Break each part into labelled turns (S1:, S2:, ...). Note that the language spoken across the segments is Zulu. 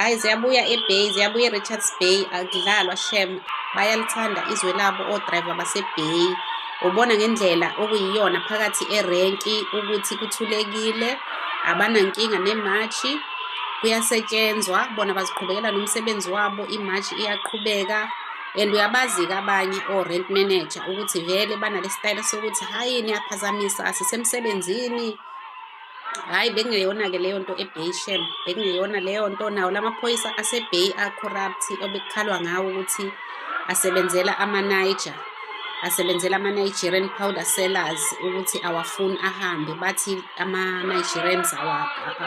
S1: hayi ziyabuya ebay ziyabuya erichards bay akudlalwa shem bayalithanda izwe labo odrayiva basebay ubona ngendlela okuyiyona phakathi erenki ukuthi kuthulekile abanankinga nemashi kuyasetshenzwa bona baziqhubekela nomsebenzi wabo imashi iyaqhubeka and uyabazi-ke abanye o-rent manager ukuthi vele banale sitayela sokuthi hhayi niyaphazamisa asisemsebenzini hhayi bekungeyona-ke leyo nto ebay shem bekungeyona leyo nto nawo la maphoyisa asebay a-corrupt obekukhalwa ngawo ukuthi asebenzela amaniger asebenzela ama-nigerian powder sellers ukuthi awafuni ahambe bathi ama-nigerians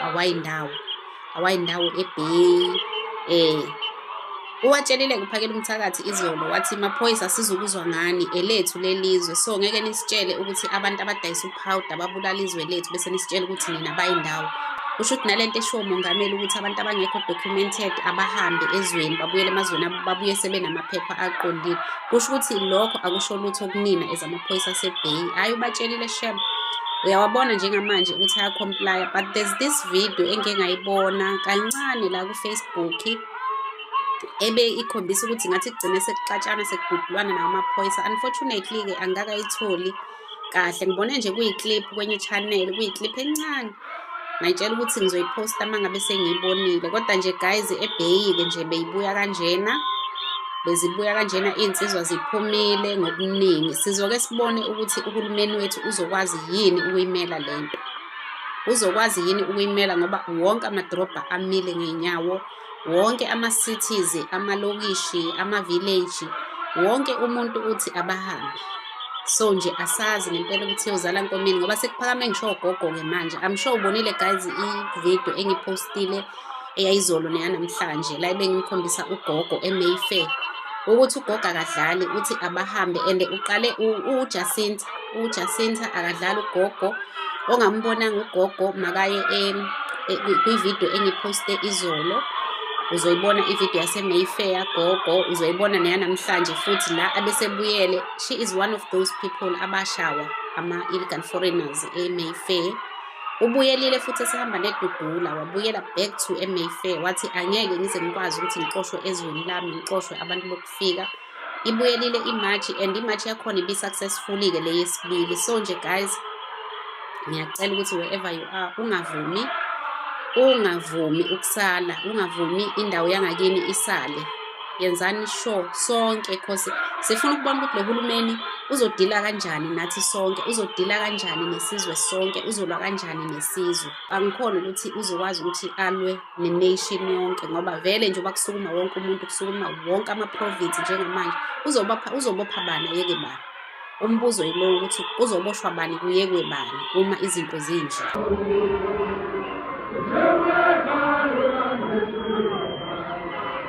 S1: awayindawo awa awayindawo ebheki um eh, uwatshelile kuphakela umthakathi izolo wathi maphoyisa sizukuzwa ngani elethu lelizwe so ngeke nisitshele ukuthi abantu abadayisa uphawuda babulala izwe lethu bese nisitshele ukuthi nina bayindawo kusho ukuthi nalento eshiwo umongameli ukuthi abantu abangekho documented abahambe ezweni babuyele emazweni abo babuye sebenamaphepha aqondile kusho ukuthi lokho akusho lutho kunina amaphoyisa asebheyi hhayi ubatshelile shem uyawabona njengamanje ukuthi ayacomplya but there's this video engike ngayibona kancane la kufacebook ebe ikhombisa ukuthi ngathi kugcine sekuxatshana sekududulwana nawo amaphoyisa unfortunately-ke angikakayitholi kahle ngibone nje kuyi-clip kwenye channel kuyi-clip encane ngayitshela ukuthi ngizoyiposta uma ngabe sengiyibonile kodwa nje guys ebheyike nje beyibuya kanjena bezibuya kanjena iy'nsizwa ziphumile ngokuningi sizoke sibone ukuthi uhulumeni wethu uzokwazi yini ukuyimela le nto uzokwazi yini ukuyimela ngoba wonke amadrobha amile ngey'nyawo wonke ama-cities amalokishi ama-village wonke umuntu uthi abahambe so nje asazi ngempela ukuthi yozala nkomeni ngoba sekuphakame ngisho ogogo-ke manje i'm sure ubonile guys i-video engiphostile eyayizolo neyanamhlanje la bengimkhombisa ugogo emayfair ukuthi ugogo akadlali uthi abahambe and uqale ujacinta uJacinta akadlali ugogo ongambonanga ugogo makaye kwividiyo engiphoste izolo uzoyibona ividiyo yasemayfair gogo uzoyibona neyanamhlanje futhi la abesebuyele she is one of those people abashawa ama-illegal foreigners emayfair ubuyelile futhi esehamba nedudula wabuyela back to emayfair wathi angeke ngize ngikwazi ukuthi ngixoshwe ezweni lami ngixoshwe abantu bokufika ibuyelile imatch and imatch yakhona ibi-successfully-ke le yesibili so nje guys ngiyacela ukuthi wherever you are ungavumi ungavumi ukusala ungavumi indawo yangakini isale yenzani sure sonke cause sifuna ukubona ukuthi lo hulumeni uzodila kanjani nathi sonke uzodila kanjani nesizwe sonke uzolwa kanjani nesizwe angikhona ukuthi uzokwazi ukuthi alwe nenation yonke ngoba vele nje uba kusukuma wonke umuntu kusukuma wonke ama-province njengamanje uzobopha uzobopha bani ayeke bani umbuzo yilowo ukuthi uzoboshwa bani kuyekwe bani uma izinto zinje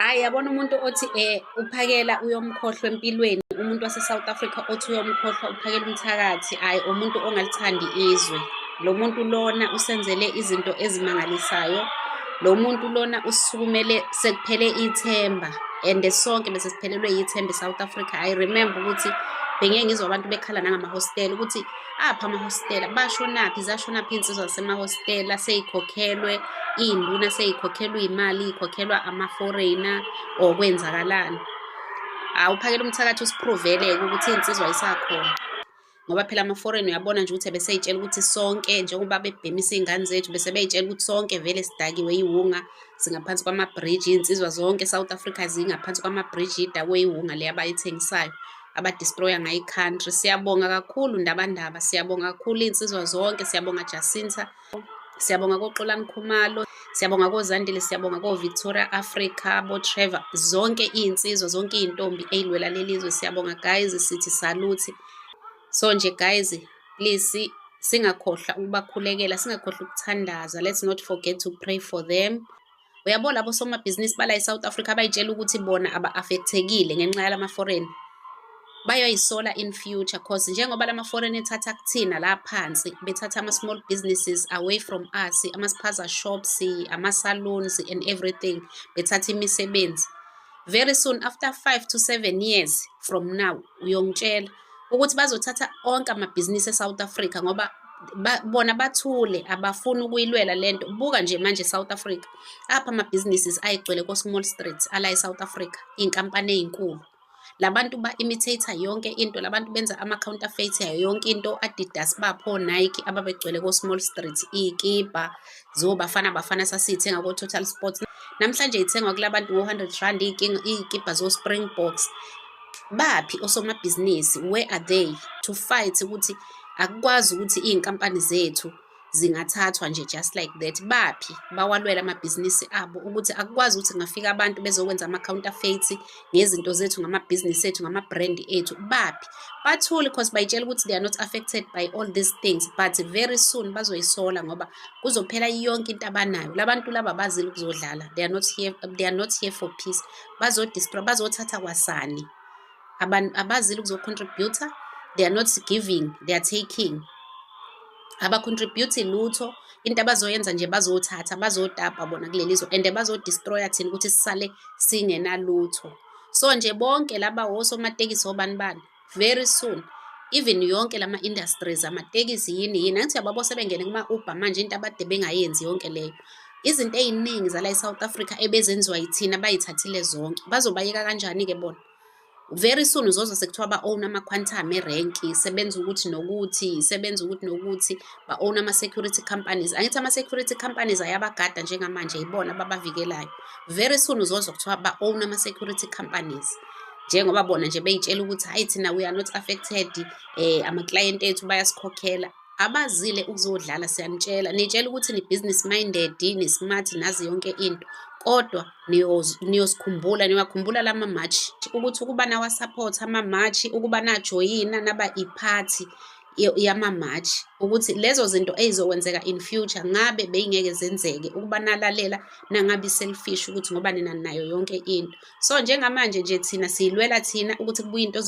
S1: Hayi yabona umuntu othi eh uphakela uyomkhohlwa empilweni umuntu wase South Africa othi uyomkhohlwa uphakela umthakathi hayi umuntu ongalithandi izwe lo muntu lona usenzele izinto ezimangalisayo lo muntu lona usukumele sekuphele ithemba and sonke bese siphelelwe yithemba eSouth Africa i remember ukuthi bengeke ngizwa abantu bekhala nangama hostel ukuthi apha amahostela bashonaphi zashonaphi iy'nsizwa zasemahostela sey'khokhelwe iy'nduna sey'khokhelwa iy'mali iy'khokhelwa ama-foreigner or kwenzakalani hhawu uphakela umthakathi usiphruveleke ukuthi iy'nsizwa yisakhona ngoba phela ama-foreign uyabona nje ukuthi beseyitshela ukuthi sonke njengoba bebhemisa iy'ngane zethu bese beyitshela ukuthi sonke vele sidakiwe iwunga singaphansi kwamabhriji iy'nsizwa zonke e-south africa zingaphansi kwamabhriji idakwe iwunga le abayithengisayo abadestroya ngayo i-country siyabonga kakhulu ndabandaba siyabonga kakhulu iy'nsizwa zonke siyabonga jacinta siyabonga koxolani khumalo siyabonga kozandile siyabonga kovictoria africa botrevor zonke iy'nsizwa zonke iy'ntombi eyilwela leli zwe siyabonga guys sithi saluthi so nje guys please singakhohlwa ukubakhulekela singakhohlwa ukuthandaza let's not forget to pray for them Uyabo labo somabhizinisi bala eSouth Africa abayitshela ukuthi bona aba-affectekile ngenxa yalama foreign bayoyisola in future cause njengoba lama foreign ethatha kuthina la phansi bethatha ama small businesses away from us ama spaza shops ama salons and everything bethatha imisebenzi very soon after 5 to 7 years from now uyongitshela ukuthi bazothatha onke amabhizinisi eSouth Africa ngoba ba, bona bathule abafuni ukuyilwela lento buka nje manje South Africa apha ama businesses ayigcwele ko small streets ala eSouth Africa inkampani ezinkulu labantu ba imitator yonke into labantu benza ama counterfeit yayo yonke into Adidas bapho Nike ababegcwele ko small streets ikipa zobafana bafana sasithenga ko Total Sports namhlanje ithengwa kulabantu ngo 100 rand ikipa zo Springboks baphi osomabhizinisi where are they to fight ukuthi akukwazi ukuthi iy'nkampani zethu zingathathwa nje just like that baphi bawalwela amabhizinisi abo ukuthi akukwazi ukuthi ngafika abantu bezokwenza ama-counterfeit ngezinto zethu ngamabhizinisi ethu ngama-brand ethu baphi bathule because bayitshela ukuthi they are not affected by all these things but very soon bazoyisola ngoba kuzophela yonke into abanayo labantu laba bazile ukuzodlala they are not here, they are not here for peace bazodistra bazothatha kwasani abantu abazile ukuzocontributor they are not giving they are taking abacontribute lutho into abazoyenza nje bazothatha bazotapa bona kuleli zwe and bazodestroya thina ukuthi sisale singenalutho so nje bonke laba wosomatekisi obani bani very soon even yonke lama industries amatekisi yini yini angithi yababo sebengene kuma Uber manje into abade bengayenzi yonke leyo izinto eziningi zala eSouth Africa ebezenziwa yithina bayithathile zonke bazobayeka kanjani ke bona very soon uzoza sekuthiwa ba own ama quantum e rank sebenza ukuthi nokuthi sebenza ukuthi nokuthi ba own ama security companies angithi ama security companies ayabagada njengamanje yibona babavikelayo very soon uzoza kuthiwa ba own ama security companies njengoba bona nje beyitshela ukuthi hayi thina we are not affected eh amaklayenti ethu bayasikhokhela abazile ukuzodlala siyanitshela nitshela ukuthi ni-business minded ni-smart nazi yonke into kodwa niyosikhumbula niwakhumbula lama match ukuthi ukuba nawasupport ama match ukuba najoyina naba iphathi yama match ukuthi lezo zinto ezizokwenzeka in future ngabe beyingeke zenzeke ukuba nalalela nangabi selfish ukuthi ngoba nina nayo yonke into so njengamanje nje thina siyilwela thina ukuthi kubuye into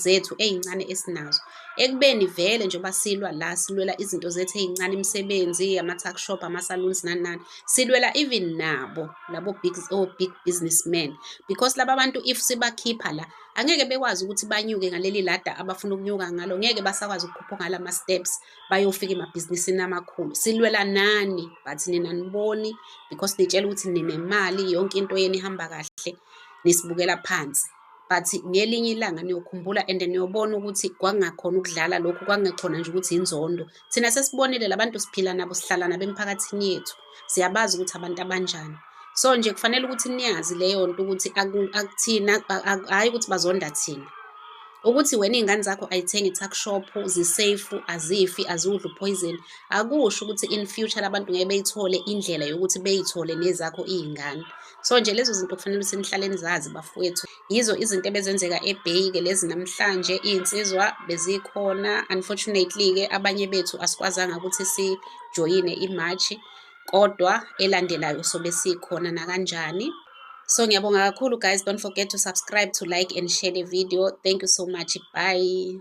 S1: zethu ezincane esinazo ekubeni vele njengoba silwa la silwela izinto zethu ezincane imisebenzi ama-tuck shop ama-saloons nani nani silwela even nabo labo big, oh, big businessmen because laba bantu if sibakhipha la angeke bekwazi ukuthi banyuke ngaleli lada abafuna ukunyuka ngalo ngeke basakwazi ukukhupha ngalama-steps bayofika emabhizinisini amakhulu silwela nani but nina niboni because nitshela ukuthi ninemali yonke into yenu ihamba kahle nisibukela phansi but ngelinye ilanga niyokhumbula and niyobona ukuthi kwangakhona ukudlala lokhu kwangekhona nje ukuthi inzondo thina sesibonile labantu siphila nabo sihlala nabo emphakathini yethu siyabazi ukuthi abantu abanjani so nje kufanele ukuthi niyazi leyo nto ukuthi akuthina hhayi ukuthi bazonda thina ukuthi wena iy'ngane zakho ayithengi i-tuckshop ziseyifu azifi aziwudli uphoyizeni akusho ukuthi in future abantu ngeke beyithole indlela yokuthi beyithole nezakho iy'ngane so nje lezo zinto kufanele ukuthi nihlale nizazi bafowethu yizo izinto ebezenzeka ebheyi ke lezi namhlanje iy'nsizwa bezikhona unfortunately-ke abanye bethu asikwazanga ukuthi sijoyine imashi kodwa elandelayo sobe sikhona nakanjani so ngiyabonga kakhulu guys don't forget to subscribe to like and share the video thank you so much bye